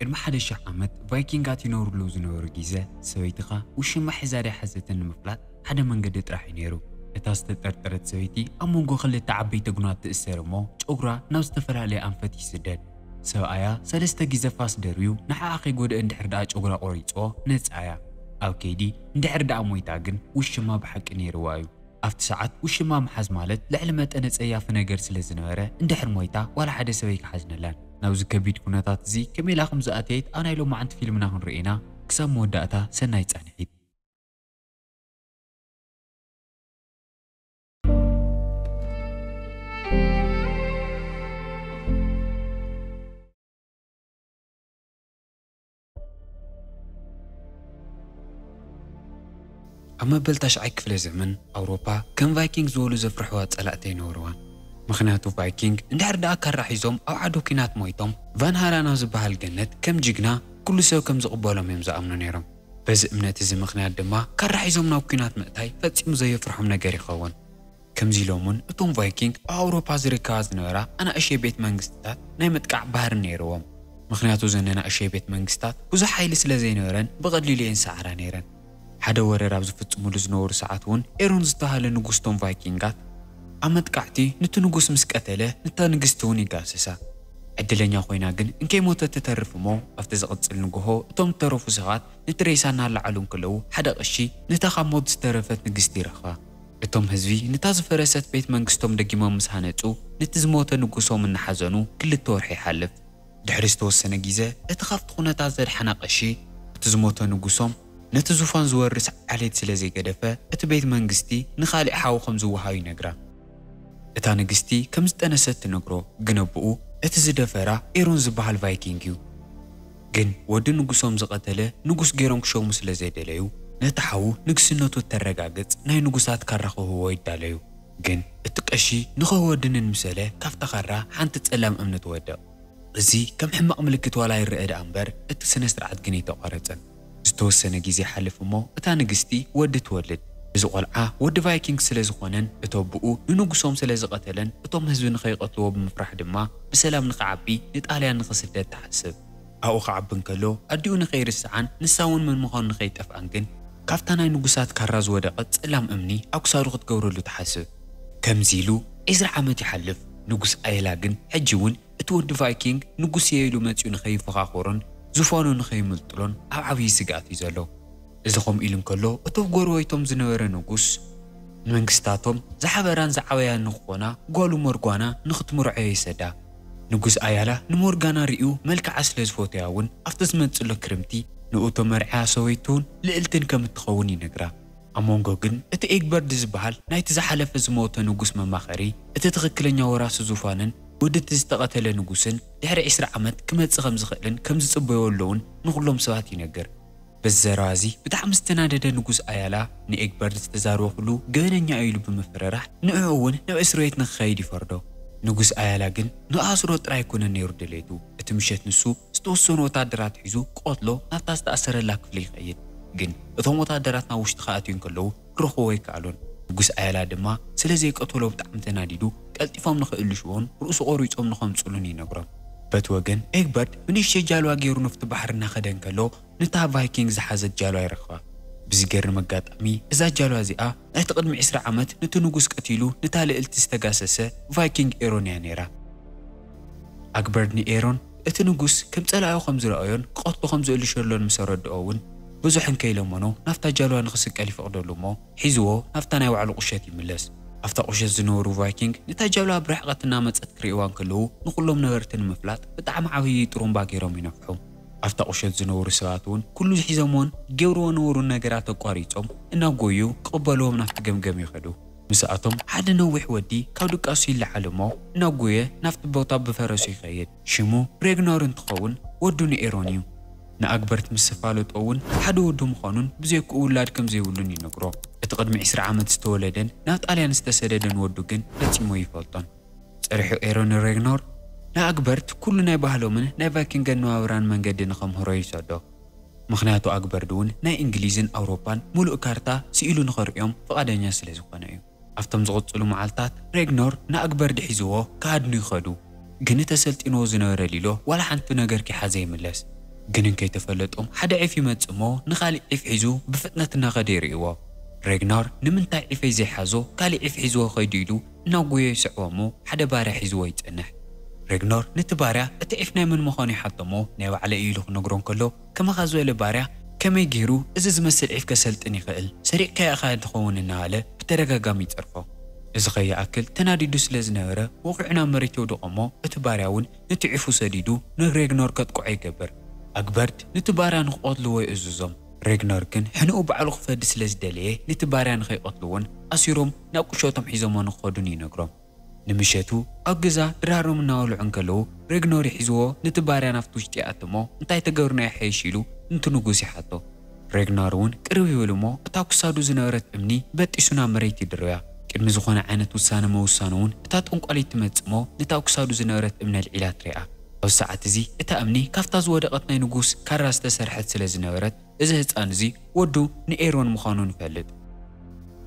ቅድሚ ሓደ ሽሕ ዓመት ቫይኪንጋት ይነብርሉ ዝነበሩ ጊዘ፣ ሰበይትኻ ውሽማ ሒዛ ድያ ሓዘተን ንምፍላጥ ሓደ መንገዲ ጥራሕ እዩ ነይሩ። እታ ዝተጠርጠረት ሰበይቲ ኣብ መንጎ ክልተ ዓበይቲ ጉናት ትእሰር እሞ ጨጉራ ናብ ዝተፈላለየ ኣንፈት ይስደድ። ሰብኣያ ሰለስተ ጊዘ ፋስ ደርብዩ ንዓኣ ከይጎድኣ እንድሕር ድኣ ጨጉራ ቆሪጽዎ ነጻ እያ። ኣብ ከይዲ እንድሕር ድኣ ሞይታ ግን ውሽማ ብሓቂ ነይርዋ እዩ። ኣብቲ ሰዓት ውሽማ ምሓዝ ማለት ልዕሊ መጠን ኣጸያፊ ነገር ስለ ዝነበረ፣ እንድሕር ሞይታ ዋላ ሓደ ሰብ ኣይክሓዝነላን። ናብዚ ከቢድ ኩነታት እዚ ከመይ ኢላ ከም ዝኣተየት ኣብ ናይ ሎማዕንቲ ፊልምና ክንርእዮ ኢና። ክሳብ መወዳእታ ሰናይ ጻንሒት። ኣብ መበል ታሽዓይ ክፍለ ዘመን ኣውሮፓ ከም ቫይኪንግ ዝበሉ ዘፍርሕዋ ጸላእቲ ኣይነበርዋን። ምኽንያቱ ቫይኪንግ እንድሕር ደኣ ካራ ሒዞም ኣብ ዓዶ ኲናት ሞይቶም ቫንሃላን ኣብ ዝበሃል ገነት ከም ጅግና ኩሉ ሰብ ከም ዝቕበሎም እዮም ዝኣምኑ ነይሮም። በዚ እምነት እዚ ምኽንያት ድማ ካራ ሒዞም ናብ ኲናት ምእታይ ፈጺሙ ዘየፍርሖም ነገር ይኸውን። ከምዚ ኢሎም እውን እቶም ቫይኪንግ ኣብ ኣውሮፓ ዝርከባ ዝነበራ ኣናእሽተይ ቤት መንግስትታት ናይ ምጥቃዕ ባህሪ ነይርዎም። ምኽንያቱ እዘን ኣናእሽተይ ቤት መንግስትታት ብዙሕ ሓይሊ ስለ ዘይነበረን ብቐሊሉ እየን ዝሰዓራ ነይረን። ሓደ ወረር ኣብ ዝፍጽሙሉ ዝነበሩ ሰዓት እውን ኤሮን ዝተባህለ ንጉስ እቶም ቫይኪንጋት፣ ኣብ መጥቃዕቲ ኑቲ ንጉስ ምስ ቀተለ ንታ ንግስቲ እውን ይጋሰሳ። ዕድለኛ ኮይና ግን እንከይሞተት ትተርፍ እሞ ኣብቲ ዝቕጽል ንግሆ እቶም ዝተረፉ ሰባት ነቲ ሬሳ እናለዓሉ እንከለዉ ሓደ ቐሺ ነታ ካብ ሞት ዝተረፈት ንግስቲ ይረኽባ። እቶም ህዝቢ ንታ ዝፈረሰት ቤት መንግስቶም ደጊሞም ምስ ሃነጹ ነቲ ዝሞተ ንጉሶም እናሓዘኑ ክልተ ወርሒ ይሓልፍ። ድሕሪ ዝተወሰነ ጊዘ እቲ ካብቲ ኩነታት ዘድሓና ቀሺ እቲ ዝሞተ ንጉሶም ነቲ ዙፋን ዝወርስ ዓሌት ስለ ዘይገደፈ እቲ ቤት መንግስቲ ንካሊእ ሓው ከም ዝወሃብ ይነግራ። እታ ንግስቲ ከም ዝጠነሰት ትነግሮ ግን ኣቡኡ እቲ ዝደፈራ ኤሮን ዝበሃል ቫይኪንግ እዩ። ግን ወዲ ንጉሶም ዝቐተለ ንጉስ ገይሮም ክሸሙ ስለ ዘይደለዩ፣ ነቲ ሓዉ ንግስነቱ እተረጋግጽ ናይ ንጉሳት ካራ ክህብዎ ይዳለዩ። ግን እቲ ቀሺ ንኽህቦ ድንን ምስ በለ ካብታ ካራ ሓንቲ ጸላም እምኒ ትወድቕ። እዚ ከም ሕማቕ ምልክት ዋላ ይረኣ ደኣ እምበር እቲ ስነ-ስርዓት ግን እይተቋረጸን። ዝተወሰነ ግዜ ይሓልፍ እሞ እታ ንግስቲ ወዲ ትወልድ። እዚ ቆልዓ ወዲ ቫይኪንግ ስለ ዝኾነን እቲ ኣቡኡ ንንጉሶም ስለ ዝቐተለን እቶም ህዝቢ ንኸይቐትልዎ ብምፍራሕ ድማ ብሰላም ንኽዓቢ ንጣልያን ንኽስደድ ትሓስብ። ኣብኡ ክዓቢ እንከሎ ኣዲኡ ንኸይርስዓን ንሳ እውን መን ምዃኑ ንኸይጠፍኣን ግን፣ ካብታ ናይ ንጉሳት ካራ ዝወደቐት ጸላም እምኒ ኣብ ክሳዱ ክትገብረሉ ትሓስብ። ከምዚ ኢሉ ዕስራ ዓመት ይሓልፍ። ንጉስ ኣየላ ግን ሕጂ እውን እቲ ወዲ ቫይኪንግ ንጉስ'የ ኢሉ መጺኡ ንኸይፎኻኾሮን ዙፋኑ ንኸይምልጥሎን ኣብ ዓብዪ ስግኣት እዩ ዘሎ። እዚ ከምኡ ኢሉ እንከሎ እቲ ኣብ ጎረቤቶም ዝነበረ ንጉስ፣ ንመንግስታቶም ዝሓበራን ዝዓበያን ንክኾና ጓሉ ሞርጓና ንክትምርዖዮ ይሰዳ። ንጉስ ኣያላ ንሞርጋና ርእዩ መልክዓ ስለ ዝፈቶያ እውን ኣብቲ ዝመጽእሎ ክርምቲ ንእቶ መርዕያ ሰበይቱን ልእልትን ከም እትኸውን ይነግራ። ኣብ መንጎ ግን እቲ ኤግበርድ ዝበሃል ናይቲ ዝሓለፈ ዝሞተ ንጉስ መማኸሪ፣ እቲ ትኽክለኛ ወራሲ ዙፋንን ወዲ እቲ ዝተቐተለ ንጉስን ድሕሪ ዕስራ ዓመት ክመጽእ ከም ዝኽእልን ከም ዝጽበዮ ኣሎውን ንኹሎም ሰባት ይነግር። በዚ ዘረባ እዚ ብጣዕሚ ዝተናደደ ንጉስ ኣያላ ንኤግበርድ ዝተዛረቦ ኩሉ ገበነኛ እዩ ኢሉ ብምፍርራሕ ንዕዑ እውን ናብ እስርቤት ንክኸይድ ይፈርዶ። ንጉስ ኣያላ ግን ንክኣስሮ ጥራይ ኣይኮነን ነይሩ ድሌቱ፣ እቲ ምሸት ንሱ፣ ዝተወሰኑ ወታደራት ሒዙ ክቐትሎ ናብታ ዝተኣሰረላ ክፍሊ ይኸይድ። ግን እቶም ወታደራት ናብ ውሽጢ ክኣትዩ እንከለዉ ክረኽብዎ ኣይከኣሉን። ንጉስ ኣያላ ድማ ስለ ዘይቀተሎ ብጣዕሚ ተናዲዱ ቀልጢፎም ንኽእልሹዎን ርእሱ ቆሪጾም ንኸምጽእሉን ይነግሮም። በቲ ወገን ኤግበርት ብንእሽተይ ጃልዋ ጌሩ ኑፍቲ ባሕሪ እናኸደ እንከሎ ነታ ቫይኪንግ ዝሓዘት ጃልዋ ይረኽባ። ብዝገርም ኣጋጣሚ እዛ ጃልዋ እዚኣ ናይቲ ቅድሚ ዕስራ ዓመት ኑቲ ንጉስ ቀቲሉ ንታ ልእልቲ ዝተጋሰሰ ቫይኪንግ ኤሮን እያ ኔራ። ኣግበርድ ንኤሮን እቲ ንጉስ ከም ጸላኢኡ ከም ዝረኣዮን ክቐትሎ ከም ዝእልሸሎን ምስ ኣረድኦ እውን ብዙሕ እንከይለመኖ ናብታ ጃልባ ንኽስቀል ይፈቕደሉ እሞ ሒዝዎ ናብታ ናይ ባዕሉ ቁሸት ይምለስ። ኣብታ ቁሸት ዝነበሩ ቫይኪንግ ነታ ጃልባ ብ ርሕቐት እናመጸት ክርእይዋ እንከለዉ ንኹሎም ነበርቲ ንምፍላጥ ብጣዕሚ ዓብዪ ጥሩምባ ገይሮም ይነፍሑ። ኣብታ ቁሸት ዝነበሩ ሰባት እውን ኩሉ ሒዘምዎን ጌብርዎ ነበሩን ነገራት ኣቋሪጾም እናጎዩ ክቕበልዎም ናብቲ ገምገም ይኸዱ። ምስኣቶም ሓደ ነዊሕ ወዲ ካብ ድቃሱ ይለዓል እሞ እናጎየ ናብቲ ቦታ ብፈረሱ ይኸይድ። ሽሙ ሬግኖር እንትኸውን ወዱ ንኤሮን እዩ። ንኣግበርት ምስ ዝፋለጦ እውን ሓደ ወዱ ምዃኑን ብዘይክኡ ውላድ ከም ዘይብሉን ይነግሮ። እቲ ቅድሚ ዕስራ ዓመት ዝተወለደን ናብ ጣልያን ዝተሰደደን ወዱ ግን ፈጺሙ ኣይፈልጦን። ጸርሑ ኤሮን ንሬግኖር ንኣግበርት ኩሉ ናይ ባህሎምን ናይ ቫይኪንግ ኣነባብራን መንገዲ ንኸምህሮ ይሰዶ። ምኽንያቱ ኣግበርድውን ናይ እንግሊዝን ኣውሮፓን ምሉእ ካርታ ስኢሉ ንኸርእዮም ፍቓደኛ ስለ ዝኾነ እዩ። ኣብቶም ዝቕጽሉ መዓልታት ሬግኖር ንኣግበርድ ሒዝዎ ክሃድኑ ይኸዱ። ግኒ ተሰልጢንዎ ዝነበረ ሊሎ ዋላ ሓንቱ ነገር ከይሓዘ ይምለስ። ግንን ከይተፈለጦም ሓደ ዒፍ ይመጽእ እሞ ንኻሊእ ዒፍ ሒዙ ብፍጥነት እናኸደ ይርእይዎ። ሬግኖር ንምንታይ ዒፈይ ዘይሓዞ ካሊእ ዒፍ ሒዝዎ ከይዱ ኢሉ እናጎዮ ይስዕቦ እሞ ሓደ ባርያ ሒዝዎ ይጸንሕ። ሬግኖር ነቲ ባርያ እቲ ዒፍ ናይ መን ምዃኑ ይሓቶ እሞ ናይ ባዕለይ እዩ ኢሉ ክነግሮ እንከሎ ከማኻ ዝበለ ባርያ ከመይ ገይሩ እዚ ዝመስል ዒፍ ከሰልጥን ይኽእል ሰሪቕካዮ ኢኻ ትኸውን እናበለ ብተደጋጋሚ ይጸርፎ። እዚ ከይኣክል ተናዲዱ ስለ ዝነበረ ወቒዑ ናብ መሬት የውድቖ እሞ እቲ ባርያ እውን ነቲ ዒፉ ሰዲዱ ንሬግኖር ከጥቅዖ ይገብር። ኣግበርት ነቲ ባርያ ንክቐትልዎ ይእዝዞም። ሬግነር ግን ሕነኡ ባዕሉ ክፈዲ ስለ ዝደለየ ነቲ ባርያ ንኸይቐትልዎን ኣሲሮም ናብ ቁሸቶም ሒዞምዎ ንክኸዱን ይነግሮም። ንምሸቱ ኣብ ገዛ ድራሮም እናበልዑ እንከለዉ ሬግነር ይሕዝዎ ነቲ ባርያ ናብቲ ውሽጢ ይኣቱ እሞ እንታይ ተገብርና ይሓይሽ ኢሉ ንቲ ንጉስ ይሓቶ። ሬግነር እውን ቅርብ ይብል እሞ እታ ኩሳዱ ዝነበረት እምኒ በጢሱ ናብ መሬት ይድርብያ። ቅድሚ ዝኾነ ዓይነት ውሳነ ምውሳኑ እውን እታ ጠንቋሊት ትመጽእ እሞ ነታ ኩሳዱ ዝነበረት እምኒ ኣልዒላ ትሪኣ። ኣብዚ ሰዓት እዚ እታ እምኒ ካብታ ዝወደቐት ናይ ንጉስ ካራ ዝተሰርሐት ስለ ዝነበረት እዚ ህጻን እዚ ወዱ ንኤሮን ምዃኑ ንፈልጥ።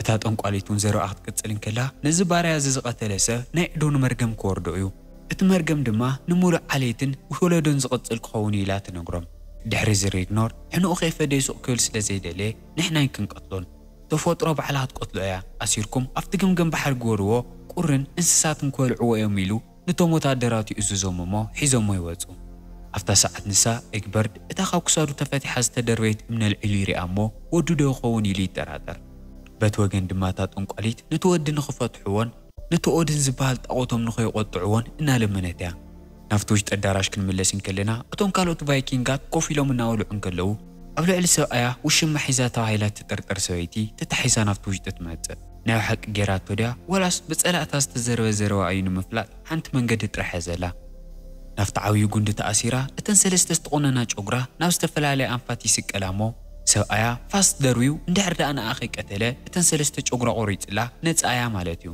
እታ ጠንቋሊት እውን ዘረብኣ ክትቅጽል እንከላ ነዚ ባርያ እዚ ዝቐተለ ሰብ ናይ ዕዶኑ መርገም ክወርዶ እዩ። እቲ መርገም ድማ ንምሉእ ዓሌትን ወለዶን ዝቕጽል ክኸውን እዩ ኢላ ትነግሮም። ድሕሪ እዚ ሬግኖር ሕነኡ ከይፈደየ ሱቕ ክብል ስለ ዘይደለየ ንሕና ኣይክንቀትሎን። ተፈጥሮ ባዕላ ክትቀትሎ እያ። ኣሲርኩም ኣብቲ ገምገም ባሕሪ ግበርዎ ቁርን እንስሳትን ክበልዕዎ እዮም ኢሉ ነቶም ወተሃደራት ይእዝዞም እሞ ሒዞሞ ይወጹ። ኣብታ ሰዓት ንሳ፣ ኤግበርድ፣ እታ ካብ ክሳዱ ተፈቲሓ ዝተደርበየት እምኒ ኣልዒሉ ይሪኣ እሞ ወዱ ዶ ይኸውን ኢሉ ይጠራጠር። በቲ ወገን ድማ እታ ጠንቋሊት ነቲ ወዲ ንኽፈትሑዎን ነቲ ኦድን ዝበሃል ጣኦቶም ንኸይቖጥዑዎን እናለመነት እያ። ናብቲ ውሽጢ ኣዳራሽ ክንምለስ እንከለና እቶም ካልኦት ቫይኪንጋት ኮፍ ኢሎም እናበልዑ እንከለዉ ኣብ ልዕሊ ሰብኣያ ውሽማ ሒዛ ተባሂላ እትጥርጠር ሰበይቲ ተታሒዛ ናብቲ ውሽጢ ትመጽእ። ናይ ብሓቂ ጌራቶ ድያ ዋላስ ብጸላእታ ዝተዘርበ ዘረባ እዩ ንምፍላጥ ሓንቲ መንገዲ ጥራሕ እያ ዘላ ናብቲ ዓብዩ ጉንዲ ተኣሲራ እተን ሰለስተ ዝተቆነና ጮግራ ናብ ዝተፈላለያ ኣንፋት ይስቀላ እሞ ሰብኣያ ፋስ ደርብዩ እንድሕር ድኣ ንኣ ከይቀተለ እተን ሰለስተ ጮግራ ቆሪጽላ ነጻ እያ ማለት እዩ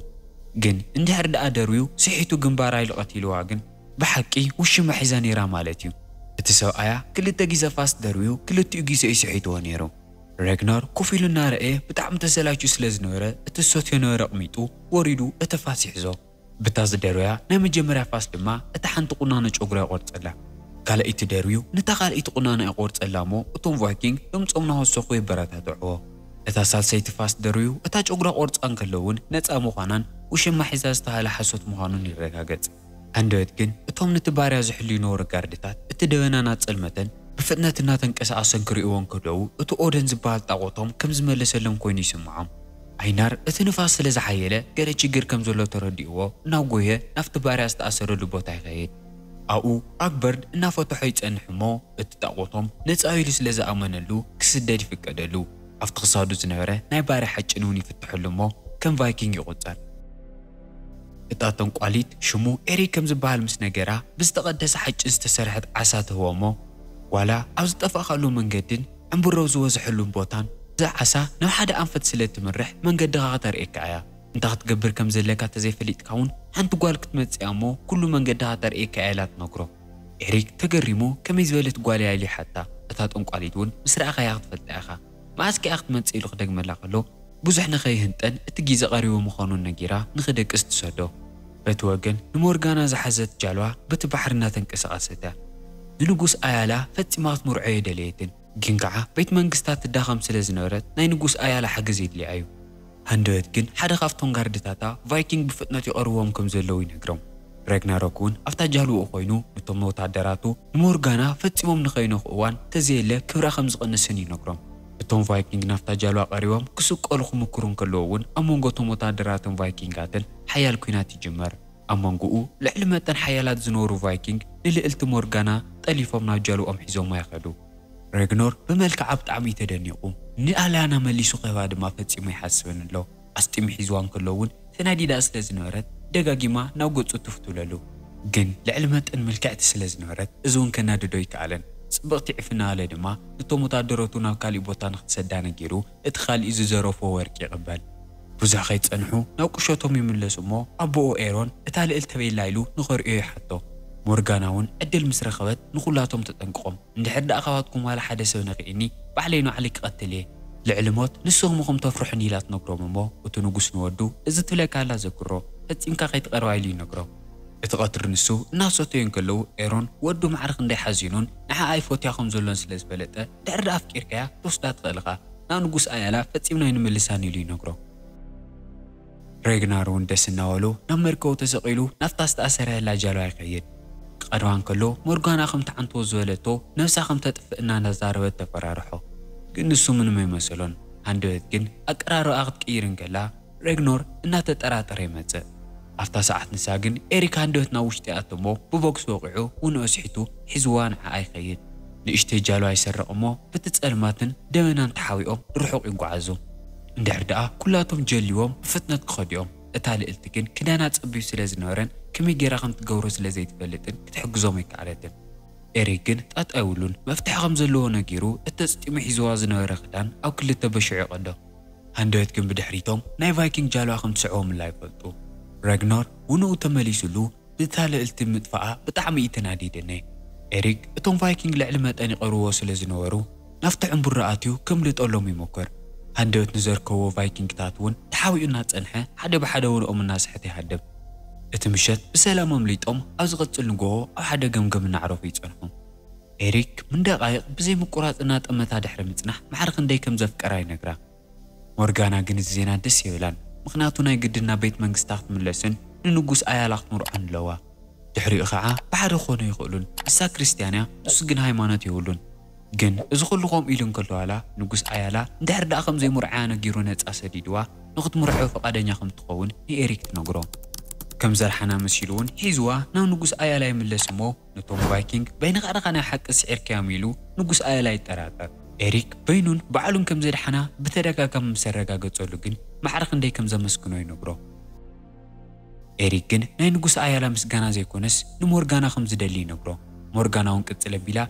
ግን እንድሕር ድኣ ደርብዩ ስሒቱ ግንባራ ኢሉ ቀቲልዋ ግን ብሓቂ ውሽማ ሒዛ ኔራ ማለት እዩ እቲ ሰብኣያ ክልተ ጊዘ ፋስ ደርብዩ ክልቲኡ ጊዘ እዩ ስሒትዎ ኔሩ። ረግናር ኮፍ ኢሉ እናረኣየ ብጣዕሚ ተሰላችዩ ስለ ዝነበረ እቲ ዝሰትዮ ነበረ ኣቕሚጡ ወሪዱ እቲ ፋስ ይሕዞ። ብታ ዝደርበያ ናይ መጀመርያ ፋስ ድማ እታ ሓንቲ ቁናኖ ጨጉራ ይቖርጸላ። ካልኣይቲ ደርብዩ ነታ ካልኣይቲ ቁናኖኣ ይቖርጸላ እሞ እቶም ቫይኪንግ ድምጾም እናወሰኹ የበረታትዕዎ። እታ ሳልሰይቲ ፋስ ደርብዩ እታ ጨጉራ ቆርጻ እንከሎ እውን ነጻ ምዃናን ውሽማ ሒዛ ዝተሃለ ሓሶት ምዃኑን ይረጋገጽ። ሃንደበት ግን እቶም ነቲ ባርያ ዝሕልዩ ነበሩ ጋርድታት እቲ ደበና እናጸልመተን ብፍጥነት እናተንቀሳቐሰን ክርእይዎ እንከለዉ እቲ ኦደን ዝበሃል ጣቖቶም ከም ዝመለሰሎም ኮይኑ ይስምዖም። ኣይናር እቲ ንፋስ ስለ ዝሓየለ ገለ ችግር ከም ዘሎ ተረዲእዎ እናጎየ ናብቲ ባርያ ዝተኣሰረሉ ቦታ ይኸይድ። ኣብኡ ኣግበርድ እናፈተሖ ይጸንሕ እሞ እቲ ጣቖቶም ነጻ'ዩ ኢሉ ስለ ዝኣመነሉ ክስደድ ይፍቀደሉ። ኣብቲ ክሳዱ ዝነበረ ናይ ባርያ ሓጭን'ውን ይፍተሐሉ እሞ ከም ቫይኪንግ ይቑጸር። እታ ጠንቋሊት ሽሙ ኤሪ ከም ዝበሃል ምስ ነገራ፣ ብዝተቐደሰ ሓጭን ዝተሰርሐት ዓሳ ትህቦ'ሞ፣ ዋላ ኣብ ዝጠፋእካሉ መንገድን ዕምብሮብ ዝበዝሐሉን ቦታን፣ እዛ ዓሳ ናብ ሓደ ኣንፈት ስለ እትምርሕ መንገድኻ ከተርእየካ እያ። እንታይ ክትገብር ከም ዘለካ ተዘይፈሊጥካ'ውን ሓንቲ ጓል ክትመጽእ'ያ'ሞ ኩሉ መንገድኻ ተርእየካ እያ ኢላ ትነግሮ። ኤሪክ ተገሪሙ ከመይ ዝበለት ጓል'ያ ኢሉ ይሓታ። እታ ጠንቋሊት'ውን ምስ ረኣኻያ ክትፈልጣ ኢኻ። መኣስ ኪኣ ክትመጽእ ኢሉ ክደግመላ ከሎ ብዙሕ ንኸይህንጠን እቲ ጊዘ ቀሪቡ ምዃኑ ነጊራ ንኽደቅስ ትሰዶ። በቲ ወገን ንሞርጋና ዝሓዘት ጃልባ በቲ ባሕሪ እናተንቀሳቐሰት እያ። ንንጉስ ኣያላ ፈጺማ ክትምርዖ ኣይደለየትን። ግን ከኣ ቤት መንግስታ ትዳኸም ስለ ዝነበረት ናይ ንጉስ ኣያላ ሓገዝ የድልያ እዩ። ሃንደበት ግን ሓደ ካብቶም ጋርድታታ ቫይኪንግ ብፍጥነት ይቐርብዎም ከም ዘለዉ ይነግሮም። ራግናሮክ እውን ኣብታ ጃልባኡ ኰይኑ ንቶም ወተሃደራቱ ንሞርጋና ፈጺሞም ንኸይነኽኡ እዋን እንተዘየለ ክብራ ከም ዝቕንስን ይነግሮም። እቶም ቫይኪንግ ናብታ ጃልባ ቀሪቦም ክስቀሉ ክምክሩ እንከለዉ እውን ኣብ መንጎ እቶም ወተሃደራትን ቫይኪንጋትን ሓያል ኲናት ይጅመር። ኣብ መንጎኡ ልዕሊ መጠን ሓያላት ዝነበሩ ቫይኪንግ ንልእልቲ ሞርጋና ጠሊፎም ናብ ጃልባኦም ሒዞማ ይኸዱ። ረግኖር ብመልክዓ ብጣዕሚ እዩ ተደኒቑ። ንኣልያና መሊሱ ክህባ ድማ ፈጺሙ ኣይሓስብን ኣሎ። ኣስጢሙ ሒዝዋ እንከሎ እውን ተናዲዳ ስለ ዝነበረት ደጋጊማ ናብ ገጹ ትፍ ትብለሉ። ግን ልዕሊ መጠን ምልክዕቲ ስለ ዝነበረት እዚ እውን ከናድዶ ኣይከኣለን። ጽብቕቲ ዕፍና ኣለ ድማ ነቶም ወተሃደረቱ ናብ ካሊእ ቦታ ንኽትሰዳ ነጊሩ እቲ ካልእ ዝዘረፎ ወርቂ ይቕበል። ቡዙሕ ከይጸንሑ ናብ ቁሸቶም ይምለሱ እሞ ኣቦኡ ኤሮን እታ ልእልቲ ቤላ ኢሉ ንኸርእዮ ይሓቶ። ሞርጋና ውን ዕድል ምስ ረኸበት ንኹላቶም ተጠንቅቖም እንድሕር ደኣ ካባትኩም ዋላ ሓደ ሰብ ነኺእኒ ባዕለይ ንባዕለይ ክቐትል እየ ልዕሊ ሞት ንስኹም ኢኹም ተፍርሑኒ ኢላ ትነግሮም እሞ እቲ ንጉስ ንወዱ እዚ ትብለካ ዘላ ዘክሮ ፈጺምካ ከይትቐርባ ኢሉ ይነግሮ። እቲ ቀትሪ ንሱ እናሰተዩ እንከለዉ ኤሮን ወዱ ማዕረ ክንደይ ሓዚኑን ንዓኣ ይፎትያ ከም ዘሎን ስለ ዝፈለጠ ድሕሪ ድኣ ኣፍቂርካያ ክትወስዳ ትኽእል እኻ ናብ ንጉስ ኣያላ ፈጺምና ኣይንምልሳን ኢሉ ይነግሮ። ሬግናር ውን ደስ እናበሎ ናብ መርከቡ ተሰቒሉ ናብታ ዝተኣሰረላ ጃልባ ይኸይድ። ክቐርባ እንከሎ ሞርጋና ከም ትዓንቶ ዝበለቶ ነብሳ ከም ተጥፍእ እናተዛረበት ተፈራርሖ። ግን ንሱ ምንም ኣይመሰሎን። ሃንደበት ግን ኣቀራርባኣ ክትቅይር እንከላ ሬግኖር እናተጠራጠረ ይመጽእ። ኣብታ ሰዓት ንሳ ግን ኤሪክ ሃንደበት ናብ ውሽጢ ይኣቱ እሞ ብቦክስ ወቒዑ ውን ኣስሒቱ ሒዝዋ ንዓኣ ይኸይድ። ንእሽተይ ጃልባ ይሰርቕ እሞ በቲ ጸልማትን ደበናን ተሓቢኦም ንርሑቕ ይጓዓዙ። እንድሕር ደኣ ኩላቶም ጀልይዎም ብፍጥነት ክኸዱ'ዮም። እታ ልእልቲ ግን ክዳና ጸቢብ ስለ ዝነበረን ከመይ ጌራ ከም ትገብሮ ስለ ዘይትፈልጥን ክትሕግዞም ኣይከኣለትን። ኤሪክ ግን ጣጣ የብሉን መፍትሒ ከም ዘለዎ ነጊሩ እቲ ኣጽጢሙ ሒዝዋ ዝነበረ ክዳን ኣብ ክልተ በሺዑ ይቐዶ። ሃንደበት ግን ብድሕሪቶም ናይ ቫይኪንግ ጃልባ ከም ትስዕቦምላ ይፈልጡ። ረግኖር ውንኡ ተመሊሱሉ ብእታ ልእልቲ ምጥፋኣ ብጣዕሚ እዩ ተናዲደ ን ኤሪክ እቶም ቫይኪንግ ልዕሊ መጠን ይቐርብዎ ስለ ዝነበሩ ናብቲ ዕምቡራ ኣትዩ ከምልጠሎም ይሞክር ሃንደበት ንዘርከብዎ ቫይኪንግታት ውን ተሓቢኡ እናጸንሐ ሓደ ብሓደ ውንኦም እናሰሐተ ይሃድም። እቲ ምሸት ብሰላም ኣምሊጦም ኣብ ዝቐጽል ንግሆ ኣብ ሓደ ገምገም እናዕረፉ ይጸንሑ። ኤሪክ ን ደቓይቕ ብዘይ ምቁራጽ እናጠመታ ድሕሪ ምጽናሕ ማዕረ ክንደይ ከም ዘፍቀራ ይነግራ። ሞርጋና ግን እዚ ዜና ደስ የብላን ምኽንያቱ ናይ ግድን ናብ ቤት መንግስታ ክትምለስን ንንጉስ ኣያላ ክትምርዖን ኣለዋ። ድሕሪኡ ከኣ ብሓደ ክኾኑ ኣይኽእሉን ንሳ ክርስትያን እያ ንሱ ግን ሃይማኖት የብሉን። ግን እዚ ኩሉ ከምኡ ኢሉ እንከሎ ዋላ ንጉስ ኣያላ እንድሕር ደኣ ከም ዘይምርዖያ ነጊሩ ነጻ ሰዲድዋ ንኽትምርዖ ፍቓደኛ ከም እትኸውን ንኤሪክ ትነግሮ። ከም ዘርሓና መሲሉ'ውን ሒዝዋ ናብ ንጉስ ኣያላ ይምለስ እሞ ነቶም ቫይኪንግ በይንኻ ድኻ ናይ ሓቂ ስዒርካዮም ኢሉ ንጉስ ኣየላይ ይጠራጠር። ኤሪክ በይኑን ባዕሉን ከም ዘድሓና ብተደጋጋሚ ምስ ኣረጋገጸሉ ግን ማዕረ ክንደይ ከም ዘመስግኖ ይነግሮ። ኤሪክ ግን ናይ ንጉስ ኣያላ ምስጋና ዘይኮነስ ንሞርጋና ከም ዝደሊ ይነግሮ። ሞርጋና'ውን ቅጽል ኣቢላ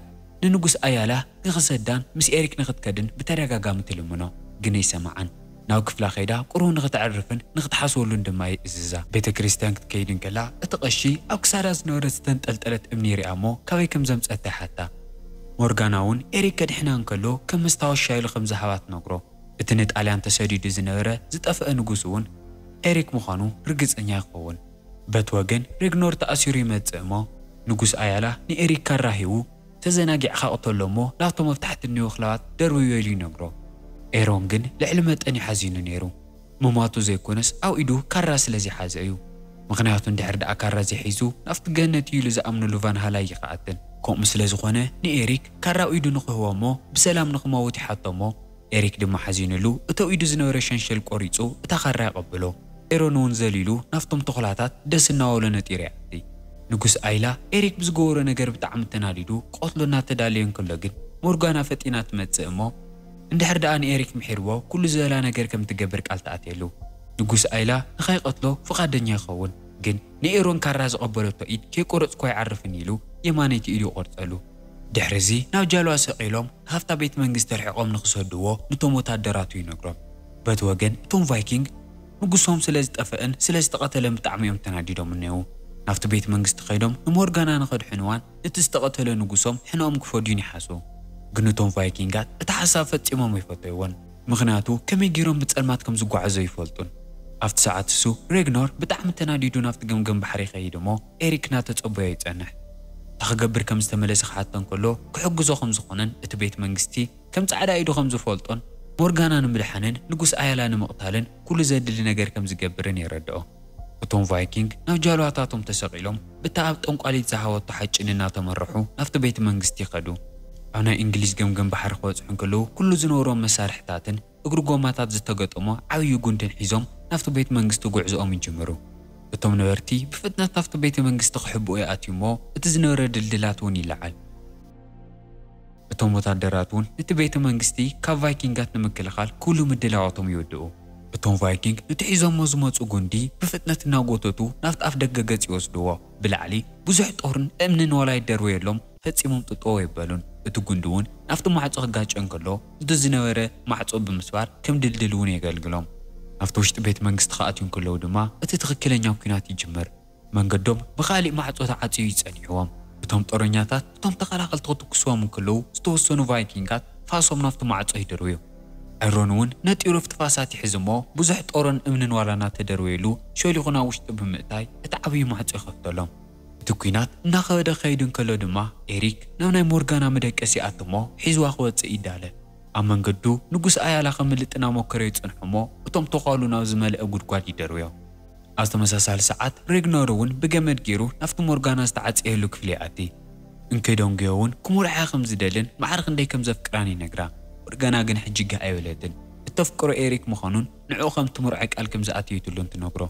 ንንጉስ ኣያላ ንኽሰዳን ምስ ኤሪክ ንኽትከድን ብተደጋጋሚ ትልምኖ። ግን ኣይሰምዓን። ናብ ክፍላ ከይዳ ቍሩብ ንኽተዕርፍን ንኽትሓስበሉን ድማ ይእዝዛ። ቤተ ክርስትያን ክትከይድ እንከላ፣ እቲ ቐሺ ኣብ ክሳዳ ዝነበረት ዝተንጠልጠለት እምኒ ይሪኣ እሞ ካበይ ከም ዘምጽኣታ ይሓታ። ሞርጋና እውን ኤሪክ ከድሕና እንከሎ ከም መስታወሻ ኢሉ ከም ዝሃባ ትነግሮ። እቲ ንጣልያን ተሰዲዱ ዝነበረ ዝጠፍአ ንጉስ እውን ኤሪክ ምዃኑ ርግጸኛ ይኸውን። በቲ ወገን ሬግኖር ተኣሲሩ ይመጽእ እሞ ንጉስ ኣያላ ንኤሪክ ካራ ሂቡ፣ ተዘናጊዕካ ቅተሎ እሞ ናብቶም ኣብ ታሕቲ እንየዉ ክላባት ደርብዮ ኢሉ ይነግሮ። ኤሮን ግን ልዕሊ መጠን እዩ ሓዚኑ ነይሩ። ምሟቱ ዘይኮነስ ኣብ ኢዱ ካራ ስለ ዘይሓዘ እዩ። ምኽንያቱ እንድሕር ደኣ ካራ ዘይሒዙ ናብቲ ገነት እዩ ኢሉ ዝኣምነሉ ቫንሃላ ኣይኸኣትን። ከምኡ ስለ ዝኾነ ንኤሪክ ካራ ኣብ ኢዱ ንኽህቦ እሞ ብሰላም ንኽመውት ይሓቶ እሞ ኤሪክ ድማ ሓዚንሉ እተው ኢዱ ዝነበረ ሸንሸል ቆሪጹ እታ ካራ የቐብሎ። ኤሮን እውን ዘሊሉ ናብቶም ተኹላታት ደስ እናበሎ ነጢሩ ይኣቲ። ንጉስ ኣይላ፣ ኤሪክ ብዝገበሮ ነገር ብጣዕሚ ተናዲዱ ክቐትሎ እናተዳለየ እንከሎ ግን ሞርጋና ፈጢና ትመጽእ እሞ እንድሕር ደኣ ንኤሪክ ምሒርዎ ኩሉ ዝበላ ነገር ከም እትገብር ቃል ትኣትየሉ። ንጉስ ኣይላ ንኸይቐትሎ ፍቓደኛ ይኸውን ግን ንኤሮን ካራ ዝቐበለቶ ኢድ ከይቆረጽኩ ኣይዓርፍን ኢሉ የማነይቲ ኢዱ ይቖርጸሉ። ድሕሪ'ዚ ናብ ጃልባ ሰቒሎም ካብታ ቤት መንግስቲ ኣርሒቖም ንኽሰድዎ ንቶም ወታደራቱ ይነግሮም። በቲ ወገን እቶም ቫይኪንግ ንጉሶም ስለ ዝጠፈእን ስለ ዝተቐተለን ብጣዕሚ እዮም ተናዲዶምን ነይዉ። ናብቲ ቤት መንግስቲ ከይዶም ንሞርጋና ንኸድሕንዋን ነቲ ዝተቐተለ ንጉሶም ሕነኦም ክፈድዩን ይሓስቡ። ግን እቶም ቫይኪንጋት እቲ ሓሳብ ፈጺሞም ኣይፈተይዎን። ምኽንያቱ ከመይ ገይሮም ብጸልማት ከም ዝጓዓዙ ኣይፈልጡን። ኣብቲ ሰዓት ንሱ፣ ሬግኖር፣ ብጣዕሚ ተናዲዱ ናብቲ ገምገም ባሕሪ ይኸይድ እሞ ኤሪክ እናተጸበዮ ይጸንሕ። እንታይ ክገብር ከም ዝተመለሰ ክሓቶ እንከሎ ክሕግዞ ከም ዝኾነን እቲ ቤት መንግስቲ፣ ከም ጻዕዳ ኢዱ ከም ዝፈልጦን ሞርጋና ንምድሓንን ንጉስ ኣያላ ንምቕታልን ኵሉ ዘድሊ ነገር ከም ዝገብርን የረድኦ። እቶም ቫይኪንግ ናብ ጃልባታቶም ተሰቒሎም ብታ ኣብ ጠንቋሊት ዝሃበቶ ሓጭን እናተመርሑ ናብቲ ቤተ መንግስቲ ይኸዱ። ኣብ ናይ እንግሊዝ ገምገም ባሕሪ ክበጽሑ እንከለዉ ኵሉ ዝነበሮም መሳርሒታትን እግሪ ጎማታት ዝተገጠሞ ዓብዪ ጕንድን ሒዞም ናብቲ ቤተ መንግስቲ ጕዕዞኦም ይጅምሩ። እቶም ነበርቲ ብፍጥነት ናብቲ ቤተ መንግስቲ ክሕብኡ ይኣትዩ እሞ እቲ ዝነበረ ድልድላት እውን ይለዓል። እቶም ወታደራት እውን ነቲ ቤተ መንግስቲ ካብ ቫይኪንጋት ንምክልኻል ኩሉ ምድላዋቶም ይውድኡ። እቶም ቫይኪንግ ነቲ ሒዞሞ ዝመጹ ጕንዲ ብፍጥነት እናጐተቱ ናብቲ ኣፍ ደገ ገጽ ይወስድዎ። ብላዕሊ ብዙሕ ጦርን እምንን ዋላ ይደርበየሎም ፈጺሞም ጥጥው ኣይበሉን። እቲ ጕንዲ እውን ናብቲ ማዕጾ ክጋጨ እንከሎ ነቲ ዝነበረ ማዕጾ ብምስባር ከም ድልድል እውን የገልግሎም። ናብቲ ውሽጢ ቤተ መንግስቲ ክኣትዩ እንከለዉ ድማ እቲ ትኽክለኛ ኲናት ይጅምር። መንገዶም ብኻሊእ ማዕጾ ተዓጽዩ እዩ ጸኒሕዎም። እቶም ጦረኛታት እቶም ተኸላኸልቲ ክትኩስዎም እንክለዉ ዝተወሰኑ ቫይኪንጋት ፋሶም ናብቲ ማዕጾ ይድርብዩ። ዕሮን እውን ነጢሩ ኣብቲ ፋሳት ይሕዝ እሞ ብዙሕ ጦርን እምንን ዋላ እናተደርበየሉ ሸሊኹ ናብ ውሽጢ ብምእታይ እቲ ዓብዩ ማዕጾ ይኸፍተሎም። እቲ ኲናት እናኸበደ ክኸይድ እንከሎ ድማ ኤሪክ ናብ ናይ ሞርጋና መደቀሲ ይኣቱ እሞ ሒዝዋ ክወጽእ ይዳለ። ኣብ መንገዱ ንጉስ ኣያላ ከምልጥ እናሞከረ ይጸንሖ እሞ እቶም ተዃሉ ናብ ዝመልኣ ጉድጓድ ይደርብዮም። ኣብ ተመሳሳሊ ሰዓት፣ ሬግነር እውን ብገመድ ገይሩ ናብቲ ሞርጋና ዝተዓጸየሉ ክፍሊ ይኣቲ። እንክደንጉዮ እውን ክምርዖኣ ከም ዝደልን ማዕረ ክንደይ ከም ዘፍቅራን ይነግራ። ሞርጋና ግን ሕጂ ጋህ ኣይበለትን። እተፍቅሮ ኤሪክ ምዃኑን ንዕኡ ከም እትምርዖ ቃል ከም ዝኣተየትሉን ትነግሮ።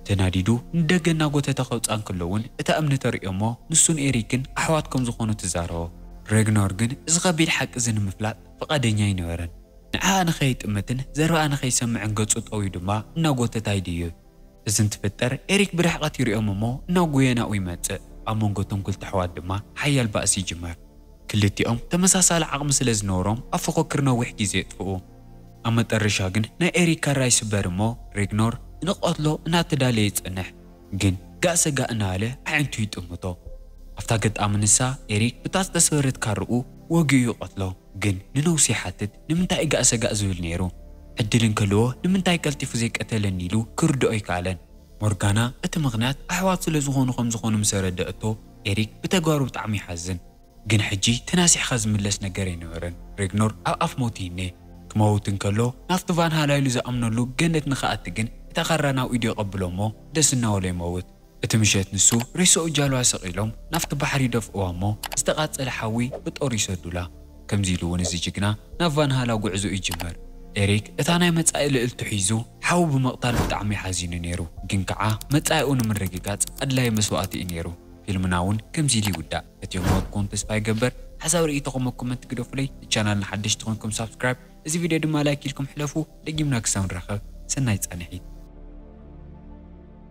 ተናዲዱ ንደገ እናጐተተ ከውጽኣ እንከሎ እውን እታ እምኒ ተርእዮ እሞ ንሱን ኤሪክን ኣሕዋት ከም ዝዀኑ ትዛረቦ። ሬግነር ግን እዚ ከቢድ ሓቂ እዚ ንምፍላጥ ፍቓደኛ ኣይነበረን። ንዓኣ ንኸይጥምትን ዘረባኣ ንኸይሰምዕን ገጹ ጠውዩ ድማ እናጎተታ ይድይብ። እዚ እንትፍጠር ኤሪክ ብርሕቐት ይርእዮም እሞ ናብ ጉየናኡ ይመጽእ። ኣብ መንጎ እቶም ክልተ ኣሕዋት ድማ ሓያል ባእሲ ይጅመር። ክልቲኦም ተመሳሳሊ ዓቕሚ ስለ ዝነበሮም ኣብ ፉኽክር ነዊሕ ግዜ የጥፍኡ። ኣብ መጠረሻ ግን ናይ ኤሪክ ካራ ይስበር እሞ ሬግኖር ንክቐትሎ እናተዳለየ ይጸንሕ። ግን ጋእ ሰጋእ እናበለ ኣዒንቱ ይጥምቶ። ኣብታ ኣገጣሚ ንሳ ኤሪክ ብታ ዝተሰበረት ካርኡ ወጊኡ ይቐትሎ። ግን ንነውሱ ይሓትት ንምንታይ እጋእ ሰጋእ ዝብል ነይሩ ዕድል እንከለዎ ንምንታይ ቀልጢፉ ዘይቀተለኒ ኢሉ ክርድኦ ኣይከኣለን ሞርጋና እቲ ምኽንያት ኣሕዋት ስለ ዝኾኑ ከም ዝኾኑ ምስ ኣረደኣቶ ኤሪክ ብተግባሩ ብጣዕሚ ይሓዝን ግን ሕጂ ተናሲሕካ ዝምለስ ነገር ኣይነበረን ሬግኖር ኣብ ኣፍ ሞት ይኔ ክመውት እንከሎ ናብቲ ቫንሃላ ኢሉ ዝኣምነሉ ገነት ንክኣቲ ግን እታ ካራ ናብ ኢዱ የቐብሎ እሞ ደስ እናበሎ ይመውት እቲ ምሸት ንሱ ሬሳኡ ጃልዋ ሰቒሎም ናብቲ ባሕሪ ይደፍእዋ እሞ ዝተቓጸለ ሓዊ ብጦር ይሰዱላ። ከምዚ ኢሉ እውን እዚ ጅግና ናብ ቫንሃላ ጉዕዞኡ ይጅምር። ኤሪክ እታ ናይ መጻኢ ልእልቱ ሒዙ ሓው ብምቕታል ብጣዕሚ እዩ ሓዚኑ ነይሩ፣ ግን ከዓ መጻኢኡ ንምርግጋጽ ኣድላዪ መስዋእቲ እዩ ነይሩ። ፊልምና እውን ከምዚ ኢሉ ይውዳእ። ፈትየሞ ክኸውን ተስፋ ይገብር። ሓሳብ ርኢቶኹም ኣብ ኮመንት ግደፉለይ። ንቻናልና ሓደሽቲ ኮይንኩም ሳብስክራይብ እዚ ቪድዮ ድማ ላይክ ኢልኩም ሕለፉ። ደጊምና ክሳብ ንራኸብ ሰናይ ጻንሒት።